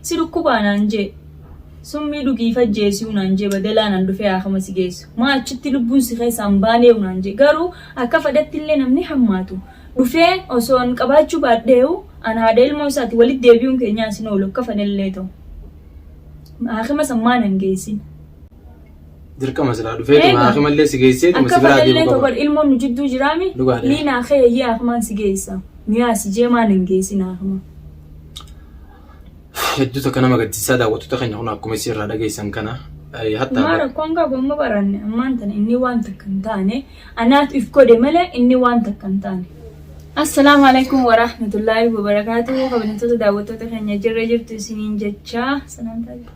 Si dhukkubaa naan jee Summii dhugii if ajjeesiu naan jee Badelaa nan dhufee aakama si geessu Maa achitti lubbuun si keessaa hin baaneu naan jee Garuu akka fadhatti illee namni hammaatu Dhufee osoo an qabaachuu baadheeu An haadha ilmoo isaati walitti deebiuun keenyaas hin oolu Akka fadhellee tau Aakama san maa nan geessin? Dirqama silaa dhufee Eega. dhugaa akimallee si geessee dhuma Akka si biraa fadhallee deemu tokko qaba. ilmoon nu jidduu jiraami. Dhugaa dha. Liinaa kee yayyee akimaan si geessa. Nu yaasi jee maan hin geessin akima. Hedduu takka nama gaddisiisaa daawwattoota keenya kun akkuma isin irraa dhageessan kana eh, hattaa Maa rakkoon qabu amma baranne ammaan tana inni waan takka hin taane anaatu if godhe malee inni waan takka hin taane. Assalaamu alaikum wa rahmatullaahi wa barakaatuhu kabajamtoota daawwattoota keenya jirra jirtu isiniin jechaa salaamtaa jirtu.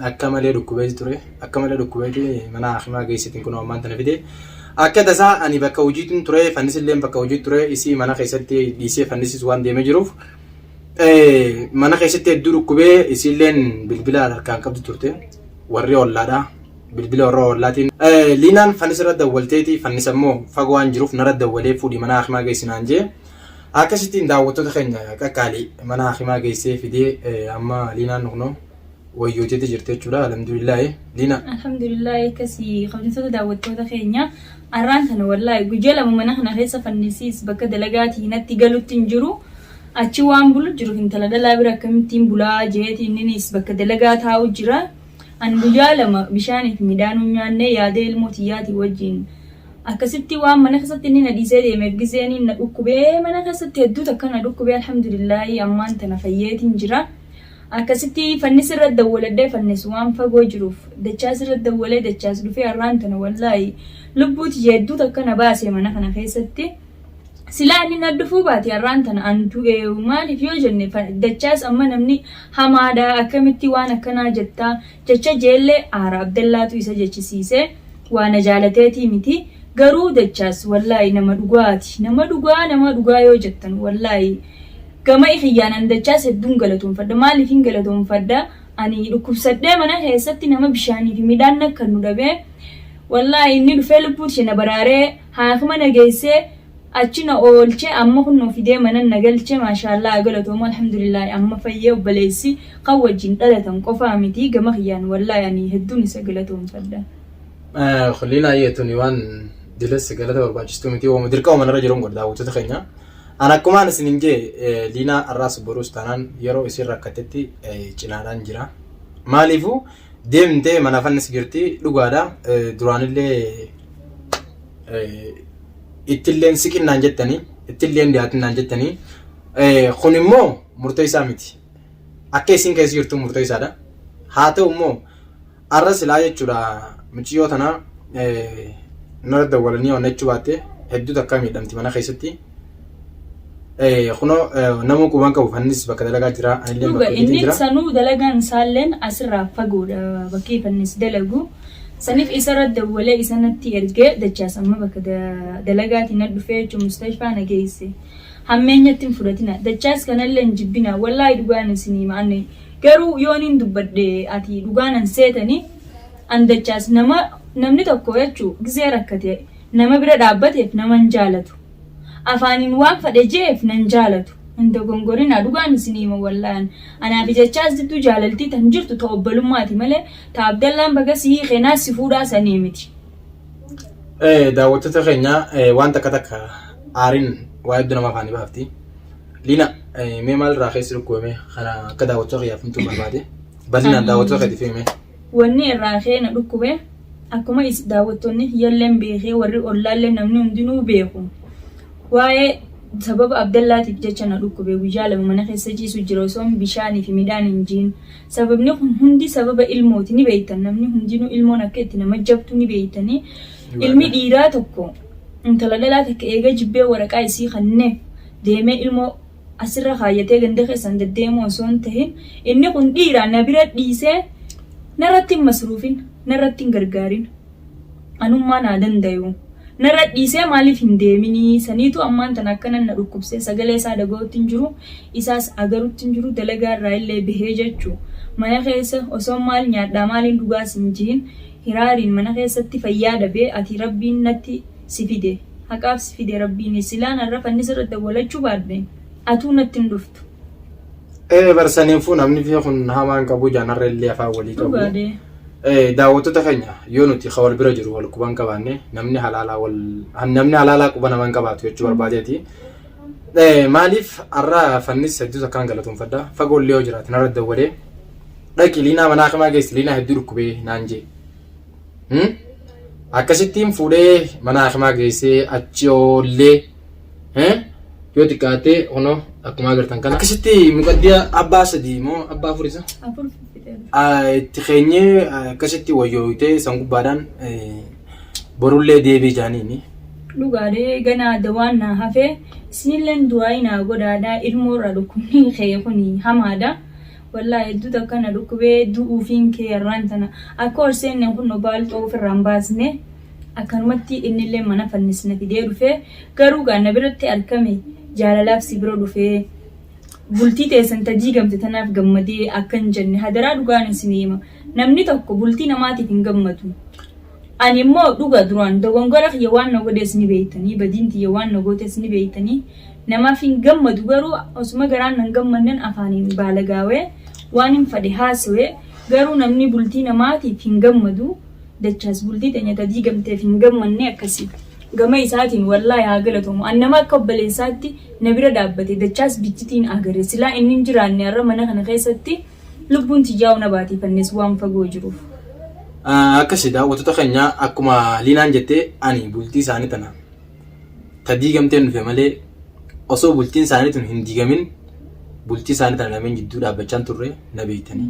Akka malee dhukkubeeti ture. Akka malee dhukkubeeti mana hakimaa geessitiin kunoo ammaan tana fide. Akka tasaa ani bakka hojiitiin ture fannisilleen bakka hojii ture isii mana keessatti dhiisee fannisis waan deemee jiruuf mana keessatti hedduu dhukkubee isiilleen bilbila harkaan qabdu turte warri ollaadha bilbila warra ollaatiin liinaan fannis irra dawwalteeti fannis ammoo fagoo waan jiruuf narra dawwalee fuudhi mana hakimaa geessinaan jee akkasittiin daawwattoota keenya qaqqaalii mana hakimaa geessee fidee amma liinaan nukunoo wayyooteeti jirti jechuudha. Alhamdulillaahi. Liina. Alhamdulillah akkasi kabajamtoota daawwattoota keenya arraan tana wallaahi guyyaa lama mana kana keessa fannisiis bakka dalagaatii natti galutti hin jiru achi waan bulu jiruuf intala dhalaa bira akkamittiin bulaa jeeti inninis bakka dalagaa taa'u jira an guyyaa lama bishaanii fi midhaan hin nyaanne yaadee ilmoo tiyyaatii wajjin akkasitti waan mana keessatti inni na dhiisee deemeef gizee inni na dhukkubee mana keessatti hedduutu akka na dhukkubee alhamdulillaahi ammaan tana fayyeetiin jira. Akkasitti fannis irra dawwaladhee fannis waan fagoo jiruuf dachaas irra dawwalee dachaas dhufee arraan tana wallaahi lubbuu tiyya hedduu takka na baase mana kana keessatti silaa inni na dhufuu baate arraan tana an du'ee maaliif yoo jenne dachaas amma namni hamaadha akkamitti waan akkanaa jettaa jecha jeelle aara abdallaatu isa jechisiise waa na jaalateetii miti garuu dachaas wallaahi nama dhugaati nama dhugaa nama dhugaa yoo jettan wallaahi gama ikiyyaan an dachaas hedduun galatoonfadha maaliifin galatoonfadha ani dhukkubsadhee mana keessatti nama bishaanii fi midhaan nakkannu dhabee wallaahi inni dhufee lubbuuti na baraaree haakima na geessee Achi na oolche amma kunnoo fidee manan na galche maashaallaha galatoomu alhamdulillahi amma fayyee obboleessi kan wajjin dhalatan qofaa miti gama kiyyaan wallahi ani hedduun isa galatoomfadha. Kulliin ayyee tuni waan dilessi galata barbaachistuu miti waama dirqama manarra jiruun godha daawwattoota keenya. An akkumaan isinin jee Liinaa har'aas boruus taanaan yeroo isiin rakkattetti cinaadhaan jira. Maaliifuu Deemtee mana fannis jirti dhugaadha duraanillee ittilleen siqinnaan jettanii ittilleen dhiyaatinnaan jettanii kun immoo murtoo isaa miti akka isiin keessa jirtu murtoo isaadha haa ta'u immoo arra silaa jechuudha muciyyoo tanaa nara dawwalanii onnachuu baatte hedduu takka miidhamti mana keessatti Eh, kunoo eh, nama quban qabu fannis bakka dalagaa jira anillee Dhuga bakka inni hojiitiin jira sanuu dalagaan isaalleen asirraa fagoodha bakki fannis dalagu. Saniif isarra dawwalee isa natti ergee dachaas amma bakka da- dalagaatiin na dhufee jechuun mustashfaa na geesse. Hammeenyatti hin fudhatina. Dachaas kanallee hin jibbina. Wallaahi dhugaan isin hima anne. Garuu yoon hin dubbadhe ati dhugaan an seetani an dachaas nama namni tokko jechuu gizee rakkate Nama bira dhaabbateef nama hin jaalatu. Afaaniin waan fadhe je'eef nan jaalatu. Hin dogongorinaa dhugaan isinii hima wallahi an. Anaa fi Jachaas jidduu jaalaltii tan jirtu ta obbolummaati malee ta Abdallaan baga si hiikee naa si fuudhaa sanii miti. Daawwattoota keenya waan takka takka aariin waa hedduu nama afaanii baafti. Liina mee maalirraa keessi dhukkubame kana akka daawwattoota kiyyaaf himtuu barbaade. Bal'inaan daawwattoota keetiif himi mee. Wanni irraa ka'ee na dhukkube akkuma is daawwattonni kiyyalleen beekee warri ollaallee namni hundinuu beeku waa'ee sababa Abdallaatiif jecha na dhukkube guyyaa lama mana keessa ciisu jira osoon bishaanii fi midhaan hin jiin sababni kun hundi sababa ilmooti ni beektan namni hundinuu ilmoon akka itti nama jabtu ni beektanii ilmi dhiiraa tokko intala dhalaa takka eega jibbee waraqaa isii kanneef deemee ilmoo asirra kaayyatee ganda keessan deddeemuu osoo hin tahin inni kun dhiira na bira dhiisee narratti hin masruufin narratti hin gargaarin anummaa naa dandayu narra dhiisee maaliif hin deeminii saniitu ammaan tana akkanan na dhukkubsee sagalee isaa dhaga'utti hin jiru isaas agarutti hin jiru dalagaa irraa illee bahee jechuu mana keessa osoo maal nyaadhaa maaliin dhugaas hin jihin hiraariin mana keessatti fayyaa dhabee ati rabbiin natti si fide haqaaf si fide rabbiini silaan arra fannisa irratti dawwalachuu baadhe atuu natti hin dhuftu. Ee bar saniifuu namni fi kun hamaan qabu jaan har'a illee afaan walii qabu. Dhugaa dee. Ee daawwattoota keenya yoo nuti ka wal bira jiru wal quban qabaanne namni halaalaa wal namni halaalaa quba naman qabaatu jechuu barbaadeeti. Ee maaliif har'a fannis hedduus akkaan galatoomfadha fagoollee yoo jiraate narra dawwalee dhaqi liinaa manaa kamaa geessi liinaa hedduu dhukkubee naan jee. Hmm? Akkasittiin fuudhee mana hakimaa geessee achi oollee eh? yoo xiqqaatee kunoo akkuma agartan kana. Akkasitti muqaddiya abbaa sadii moo abbaa afur isa? Afur fixee. Ah, itti keenyee ah, akkasitti wayyooyitee san gubbaadhaan eh, borullee deebii jaaniini. Dhugaadhee ganaa dawaan naa hafee isinilleen du'aayi naa godhaadhaa ilmoorraa dhukkubni kee kuni hamaadha. Wallahi hedduu takka na dhukkubee du'uufiin kee arraan tana akka ol seenneen kunno baalxoo ufirraan baasne akkanumatti innillee mana fannis na fidee dhufe garuu gaa na biratti arkame jaalalaaf si bira dhufe bultii teessan ta diigamte tanaaf gammadee akkan jenne hadaraa dhugaan isin hima namni tokko bultii namaatiif hin gammadu Ani immoo dhuga duraan dogongora kiyya waan na godhees ni beektanii, badiin tiyya waan na gootes ni beektanii, namaaf hin gammadu, garuu osuma garaan nan gammannen afaaniin baalagaawee waanin fadhe haasowe, garuu namni bultii namaatiif hin gammadu, dachaas bultii teenya ta diigamteef hin gammanne akkasi. Gama isaatiin wallaahi haa galatomu, an nama akka obboleessaatti na bira dhaabbate dachaas biccitiin agare, silaa inni hin jiraanne arra mana kana keessatti, Lubbuun tiyyaa ona baatii fannes waan fagoo jiruuf. Akkasi daawwattoota keenya akkuma Liinaan jette ani bultii isaanii tana ta diigamteen dhufe malee osoo bultiin isaanii tun hin diigamin bultii isaanii tana lameen jidduu dhaabbachaan turre na beektanii.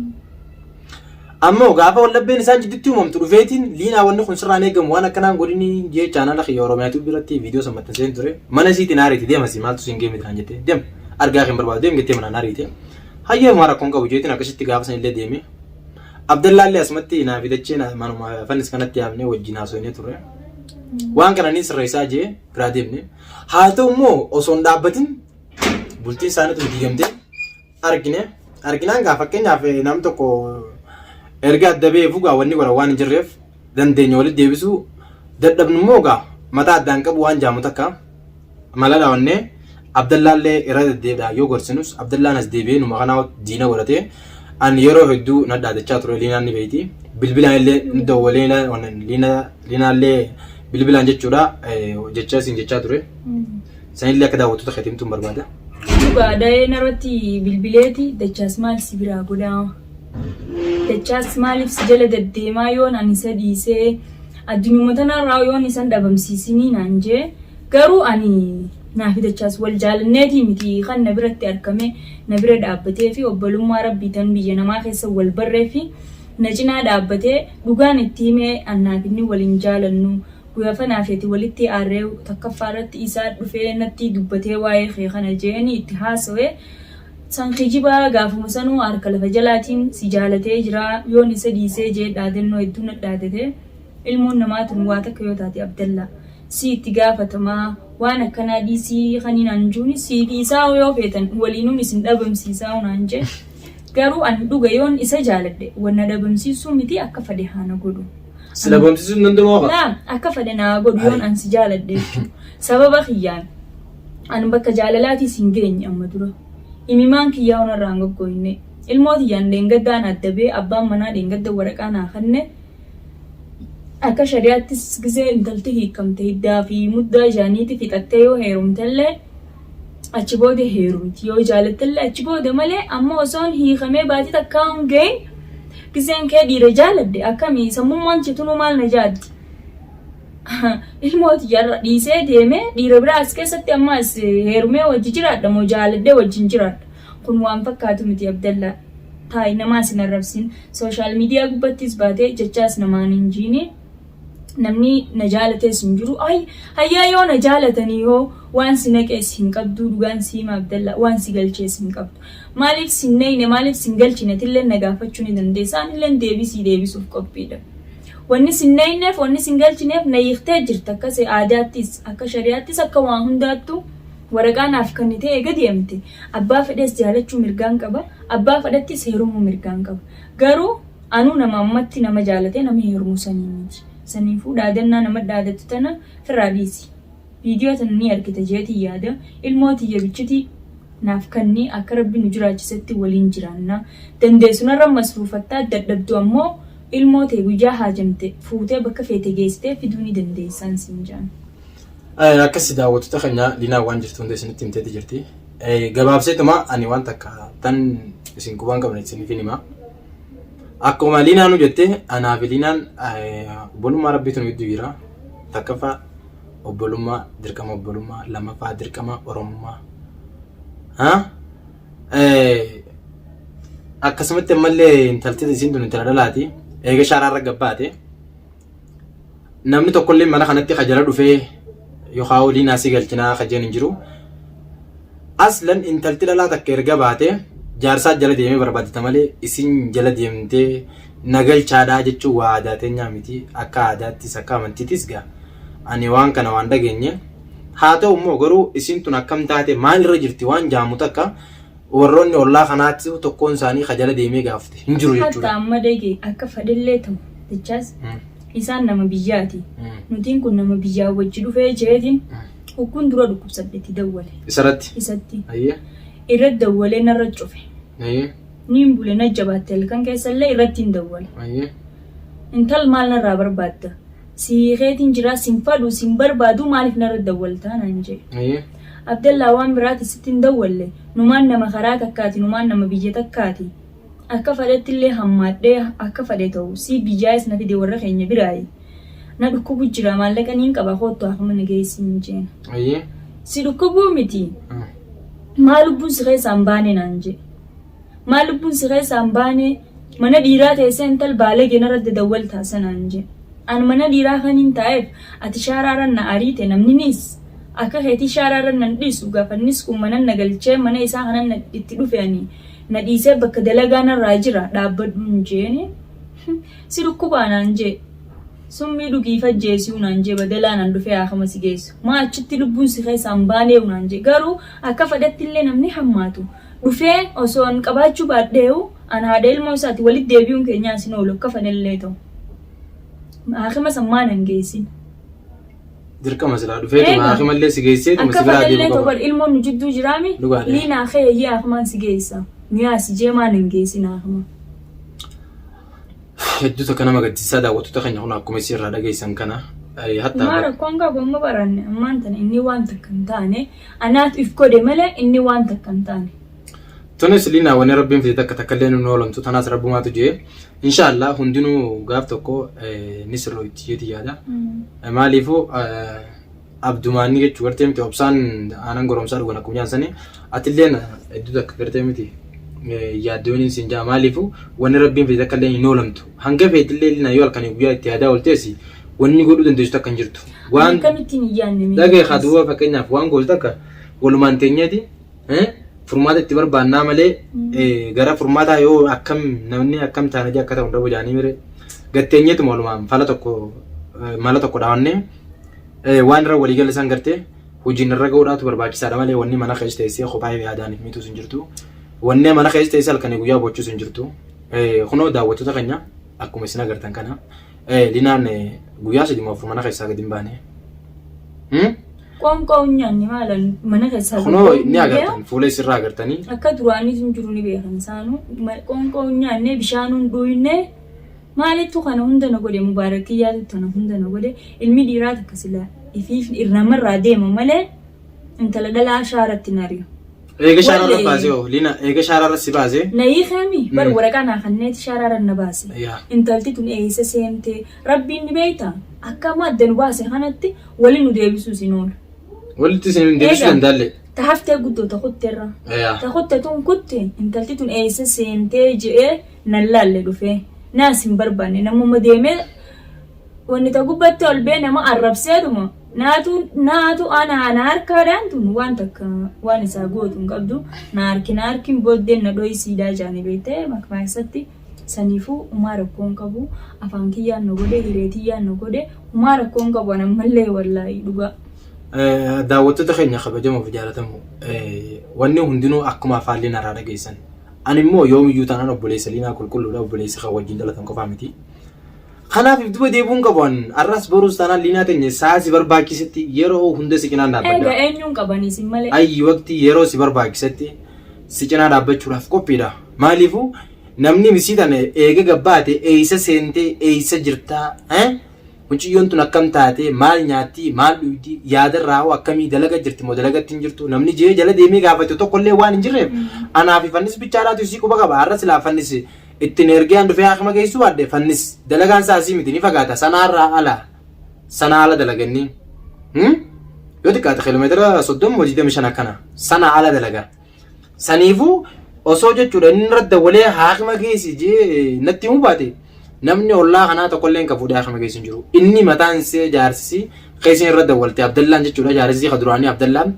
Ammoo gaafa waldhabbeen isaan jidduutti uumamtu dhufeetiin Liinaa wanni kun sirraan eegamu waan akkanaan godhini jee chaanala kiyya Oromiyaa Tube irratti viidiyoo san maxxanseen ture mana isiitiin haariiti deema si maaltu siin geemiti naan jette deem argaa kee hin barbaadu deem jettee manaan haariite. Hayyee homaa rakkoon qabu jeetiin akkasitti gaafa sanillee deeme. Abdallaallee asumatti naa fi dachee naa- manuma fannis kanatti yaamnee wajjin haasofnee turre. Waan kana ni sirreessaa jee biraa deemne. Haa ta'u immoo osoo hin dhaabbatin bultiin isaanii tun diigamtee argine. Arginaan gaa fakkeenyaaf eh, nam tokko erga adda ba'ee fugaa wanni godha waan hin jirreef dandeenya walitti deebisuu dadhabnu immoo gaa mataa addaan qabu waan jaamu takka. Maladha onnee Abdallaallee irra deddeebi'aa yoo gorsinus Abdallaan as deebi'ee numa kanaa diina godhatee an yeroo hedduu na dhaadachaa ture Liinaan ni beeyti. Bilbilaan illee ni dawwalee ilaa- wan- Liina- Liinaallee bilbilaan jechuudha eh, jecha isin jechaa ture. Sanillee akka daawwattoota keetti himtuun barbaada. Dhugaa da'ee narratti bilbileeti dachaas maal si biraa godhaa. Dachaas maaliif si jala gaddeemaa yoon ani isa dhiisee addunuma tanarraa yoon isan dhabamsiisinii naan jee garuu ani naafi dachaas wal jaalanneetii miti kan na biratti arkamee na bira dhaabbatee fi obbolummaa rabbii tan biyya namaa keessa wal barree fi na cinaa dhaabbatee dhugaan itti himee annaaf inni wal hin jaalannu guyafa naafi ati walitti aarree takkaffaa irratti isaa dhufee nattii dubbatee waa'ee kee kana jeeni itti haasawee San kijiba gaafuma sanuu harka lafa jalaatiin si jaalatee jira yoon isa dhiisee jee dhaadannoo hedduu nat dhaadate ilmoon namaa tun waa takka yoo taate abdalla sii itti gaafatama waan akkanaa dhiisii kanii naan juuni sii dhiisaau yoo feetan waliinun isin dhabamsiisaau naan jee garuu an dhuga yoon isa jaaladhe wan na dhabamsiisuu miti akka fade haa na godhu Si An- dhabamsiisuun danda'u hafa. laa akka fade naa godhu yoon Ayi. an si jaaladhe jechuu sababa kiyyaan An bakka jaalalaatii sin geenye amma dura. Imimaan kiyyaahuu narraa hin goggooyne. Ilmoo tiyyaan dheengadda ana addabee abbaan manaa dheengadda waraqaa naa kanne. Akka shari'aattis gizee intalti hiikkamte hiddaa fi muddaa isaaniitii fixattee yoo heerumtellee achi booda heerumti. Yoo jaalattellee achi booda malee amma osoon hiikamee baatii takkaa hin gahin gizeen kee dhiira jaaladde akkami sammummaan tiyya tunuu maal na jaaddi? ilmoo tiyyarra dhiisee deemee dhiira biraa as keessatti amma as heerumee wajji jiraadha moo jaaladhee wajjin jiraadha kun waan fakkaatu miti abdallaa taa'i namaas hin arrabsin sooshaal miidiyaa gubbattis baatee jechaas namaan hin jiini namni na jaalatees hin jiru ay hayyaa yoo na jaalatanii hoo waan si naqees hin qabduu dhugaan siima abdallaa waan si galchees hin qabdu maaliif sin neeyne maaliif sin galchinetillee na gaafachuu ni dandeessa anilleen deebisii deebisuuf qophiidha Wanni sin nayneef wanni sin galchineef na hiiktee jirta akka se aadaattis akka shari'aattis akka waa hundaattu waraqaa naaf kannitee eega deemte abbaa fedhes jaalachuu mirgaan qaba abbaa fedhettis heerumuu mirgaan qaba garuu anuu nama ammatti nama jaalatee nama heerumu sanii miti saniifuu dhaadannaa nama dhaadattu tana firraa dhiisi Viidiyoo tana ni argita jeetiin yaada. Ilmoo tiyya bichiti naaf kanni akka Rabbi nu jiraachisetti waliin jiraanna. Dandeessu narra masruufatta dadhabdu ammoo ilmoo tee guyyaa haajamte fuutee bakka feete geessitee fiduu ni dandeessaan siin jaan. Akkasi daawwattoota keenya Linaa waan jirtu hunda isinitti himteeti jirti. Gabaabseetuma ani waan takka tan isin quba hin qabne isiniif hin hima. Akkuma Liinaanu jette anaa fi Liinaan obbolummaa rabbiitu nu gidduu jira. Takkaffaa obbolummaa dirqama obbolummaa lammaffaa dirqama oromummaa. Akkasumatti ammallee intalti isiin tun intala dhalaati. Eega shaaraarra gabbaate namni tokkollee mana kanatti ka jala dhufee yookaan waliin asii galchinaa ka jennu hin jiru. Aslan intalti dhalaa takka erga baate jaarsaa jala deemee barbaadata malee isin jala deemtee na galchaadhaa jechuun waa aadaa teenyaa miti akka aadaattis akka amantiitis gaa ani waan kana waan dhageenye haa ta'u immoo garuu isin tun akkam taate maalirra jirti waan jaamu takka Warroonni ollaa kanaattisu tokkoon isaanii ka jala deemee gaafate hin jiru jechuudha. Hatta amma dege akka fadhellee tahu jechaas isaan nama biyyaati nutiin kun nama biyyaa wajji dhufee jeetiin hukkuun dura dhukkubsadhe itti dawwale. Isaratti? Isatti. Ayyee. Irratti dawwalee narra cufe. Ayyee. Niin bule na jabaatte halkan keessallee irrattiin dawwale. Ayyee. Intal maal narraa barbaadda? Sii keetiin jiraa sin fadhuu sin barbaaduu maaliif narra dawwaltaa naan jedhe. Hayyee. Abdallaa waan biraatiin sitti hin dawwalle numaan nama karaa takkaati numaan nama biyya takkaati akka fadhettillee hammaadhee akka fadhe ta'u sii biyyaayis na fide warra keenya biraayi na dhukkubu jira maallaqa niin qaba koottu haakima na geessi hin jeena. Hayyee. Si dhukkubuu miti. Maa lubbuun si keessaa hin baane naan jedhe. Maal lubbuun si keessaa hin baanee? Mana dhiiraa teessee intal baalagee narra dadawwaltaa sanaan jee. An mana dhiiraa kaniin taa'eef ati shaaraa irra na ariite namniniis akka keetii shaaraa irra nan dhiisu gafannis kun manan na galchee mana isaa kanan itti dhufe ani na dhiisee bakka dalagaa narraa jira dhaabbadhuun jeene si dhukkubaa naan jee summii dhugiif ajjeesiu naan jee badalaa nan dhufee haakama si geessu maa achitti lubbuun si keessaa hin baaneeyu naan jee garuu akka fadhattillee namni hammaatu dhufee osoo an qabaachuu baadheeyu an haadha ilmoo isaati walitti deebi'uun keenyaa as hin oolu akka fanillee ta'u haakima san maa nan geessin Dirqama silaa dhufeetuma Eega. haakimallee si geesseetuma akka si biraa fanillee deemu ta'u qaba. bar ilmoon nu jidduu jiraami Dhugaadha. liinaa kee eeyyee haakimaan si geessa nu yaasi jee maa nan geessin haakima Hedduu takka nama gaddisiisaa daawwattoota keenya kun akkuma isin irraa dhageessan kana. eh, Hatta Ammaa rakkoon qabu amma baranne ammaan tana inni waan takka hin taane Anaatu if kode malee inni waan takka hin taane. Tunis liinaa wanni rabbiin fide takka takka illee nun oolamtu tanaas rabbumaatu jee inshaallah hundinuu gaaf tokko eh, ni sirrooyti jeeti yaada Eh, maaliifuu eh, abdumaanni jechuu gartee miti obsaan aanan goromsaa dhugan akkuma jaansanii atilleen hedduu takka gartee miti eh, yaaddooniin siin jaa maaliifuu wanni rabbiin fide takka illee hin oolamtu Hanga feetillee Linaa yoo halkanii guyyaa itti yaadaa ooltees wanni godhuu dandeessu takka hin jirtu. Waan Akkamittiin hin yaadne mee dhagee haa duwwaa fakkeenyaaf waan gootu takka walumaan teenyeeti furmaata itti barbaannaa malee gara furmaataa yoo akkam namni akkam taanajii akka ta'u hin dhabu jaanii mire gatteenyeetuma walumaan fala tokko mala tokko dhaawannee waan irra walii galle san gartee hojiin irra ga'uudhaatu barbaachisaadha malee wanni mana keessa teessee kophaa yaadaaniif mitus hin jirtu. Wanni mana keessa teessee halkanii guyyaa bochuus hin jirtu. Kunoo daawwattoota keenya akkuma isin agartan kana Linaan guyyaa sadii afur mana keessaa gadi hin baane. Qoonqoo hin nyaanne maala mana keessaa Kunoo gadi ni hin agartan beeku. fuula isirraa agartanii Akka duraanii sun jiru ni beekan isaanuu. Ma- Qoonqoo hin nyaanne bishaan hin dhugne maalittu kana hunda na godhe mubaarakii yaadu tana hunda na godhe ilmi dhiiraa takka sila ifiif irramarraa deema malee intala dhalaa shaaratti nari'u. Eega shaararra Wale. baasee hoo Liina eega shaararra si baasee. Na hiikeemi bar Mm. waraqaa naa kanneeti shaaraarra na baase. Yaa. Intalti tun eessa seente rabbiin ni beekta akka amma adda nu baase kanatti wali nu deebisuu isin oola. Walitti isin hin deebisuu Eega. dandaalle. Ta haftee guddoo ta kutteerra. Yaa. Ta kutte tun kutte intalti tun eessa seentee je'ee nan laalle dhufee. Naas hin barbaanne namuma deemee wanni ta gubbatti ol bee nama arrabseedhuma Naatu naatu anaa na harkaadhaan tun waan takka waan isaa gootu hin qabdu na harki na harkin booddeen na dhoyi siidaa jaani beekte makmaayessatti saniifuu umaa rakkoo hin qabu afaan kiyyaan na godhe hiree tiyyaan na godhe umaa rakkoo hin qabu anan mallee wallaahi dhugaa. Daawwattoota keenya kabajamoof jaalatamu wanni hundinuu akkuma afaan liinaa irraa dhageessan. Ani immoo yoomiyyuu taanaan obboleessa liinaa qulqulluudha obboleessa kan wajjin dhalatan qofaa miti. Kanaaf if duba deebi'uun qabu an arras boruus taanaan liinaa teenya saa si barbaachisetti yeroo hunda si cinaan dhaabbadha. Eega eenyuun qabanii sin malee. Ayyi waqtii yeroo si barbaachisetti si cinaa dhaabbachuudhaaf qophiidha. Maaliifuu namni misii tana eega gabbaate eeysa seentee eeysa jirtaa eh? Muciyyoon tun akkam taatee maal nyaattii maal dhuydii yaadarraa hoo akkamii dalaga jirti moo dalagatti hin jirtu namni jee jala deemee gaafatu tokkollee waan hin jirreef anaa fi fannis bichaadhaatu isii quba qaba har'a silaa fannis Ittin ergee an dhufee haakima geessuu baadhe fannis dalagaan isaa asii miti ni fagaata sanaarraa ala sanaa ala dalaganni yoo xiqqaate kiiloomeetira soddoma moo digdamii shan akkana sanaa ala dalaga saniifuu osoo jechuudha inni irra dawwalee haakima geessi jee natti himuu baate namni ollaa kanaa tokkolleen kan fuudhee haakima geessu hin jiru inni mataan see jaarsisi keessin irra dawwalte abdallaan jechuudha jaarsisi ka duraanii abdallaan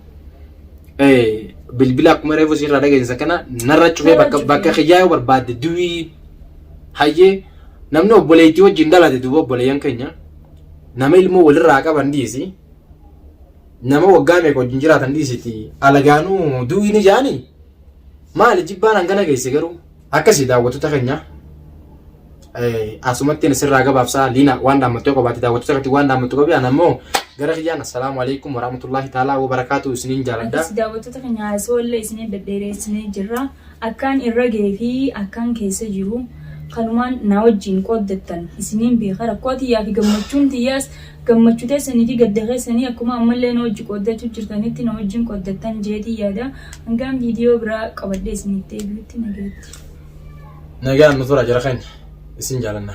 bilbila akkuma reefu sirraa dhageessa kana narra cufee Narra bakka cufee. bakka kiyyaa yoo barbaadde duwii hayyee namni obboleettii wajjin dhalate duuba obboleeyyan keenya nama ilmoo walirraa qaban dhiisi nama waggaa meeqa wajjin jiraatan dhiisiti alagaanuu duwii ni jaani maali jibbaan hangana geesse garuu Akkasii daawwattoota keenya asumatti ani sirraa gabaabsaa liina waan dhaammattee qabaate daawwattoota irratti waan dhaammattu qabi ana immoo gara kiyyaan assalaamu alaikum warahmatullahi taalaa wabarakaatu isiniin jaaladha. Akkasii daawwattoota keenya haasoo illee isinii dhedheeressinee jirra. Akkaan irra gahee fi akkaan keessa jiru kanumaan na wajjin qooddattan isiniin beeka rakkoo tiyyaa fi gammachuun tiyyaas Gammachu teessanii fi gadda keessanii akkuma ammallee na wajji qooddachu jirtanitti na wajjin qooddattan jeetii yaada. Hangaan viidiyoo biraa qabadhee isinitti deebi'utti nagayatti. Nagaan nu tura jara keenya isin jaalanna.